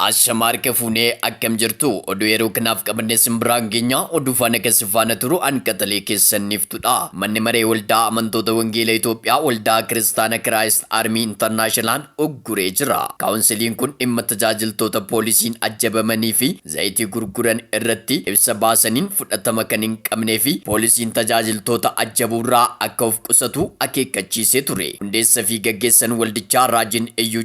Ashama harka fuunee akkam jirtu oduu yeroo kanaaf qabanne sin biraan geenya oduu faana kan si faana turu an qaxalee keessan niftudha manni maree waldaa amantoota wangeela Itoophiyaa waldaa kiristaana kiraayist armii intarnaashinalaan ugguree jira kaawunsiliin kun dhimma tajaajiltoota poolisiin ajjabamanii fi zayitii gurguran irratti ibsa baasaniin fudhatama kan hin qabnee fi poolisiin tajaajiltoota ajjabuurraa akka of qusatu akeekkachiisee ture hundeessa fi gaggeessan waldichaa raajiin iyyuu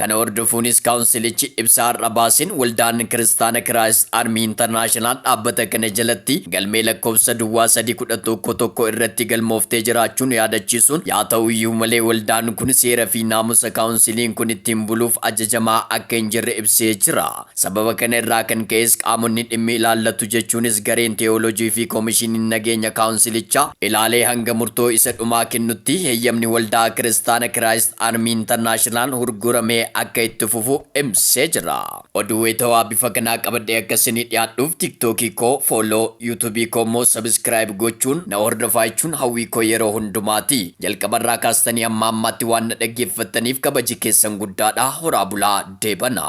Kana hordofuunis kaawunsilichi ibsa har'a baaseen Waldaan Kiristaana Kiraayist Armii Intarnaashinaal dhaabbata kana jalatti galmee lakkoofsa duwwaa 3 11 1 irratti galmooftee jiraachuu nu yaadachiisuun yaa ta'u iyyuu malee waldaan kun seera fi naamusa kaawunsiliin kun ittiin buluuf ajajamaa akka hin jirre ibsee jira. Sababa kana irraa kan ka'es qaamonni dhimmi ilaallatu jechuunis gareen teewoolojii fi koomishiniin nageenya kaawunsilichaa ilaalee hanga murtoo isa dhumaa kennutti heyyamni Waldaa Kiristaana Kiraayist Army International hurguramee akka itti fufu ibsee jira. Oduu wayitawaa bifa kanaa qabadhee akka isinii dhiyaadhuuf TikTok koo follow, YouTube koo immoo subscribe gochuun na hordofaa jechuun hawwii koo yeroo hundumaati. Jalqaba irraa kaastanii hamma ammaatti waan na dhaggeeffattaniif kabaji keessan guddaadha. Horaa bulaa deebana.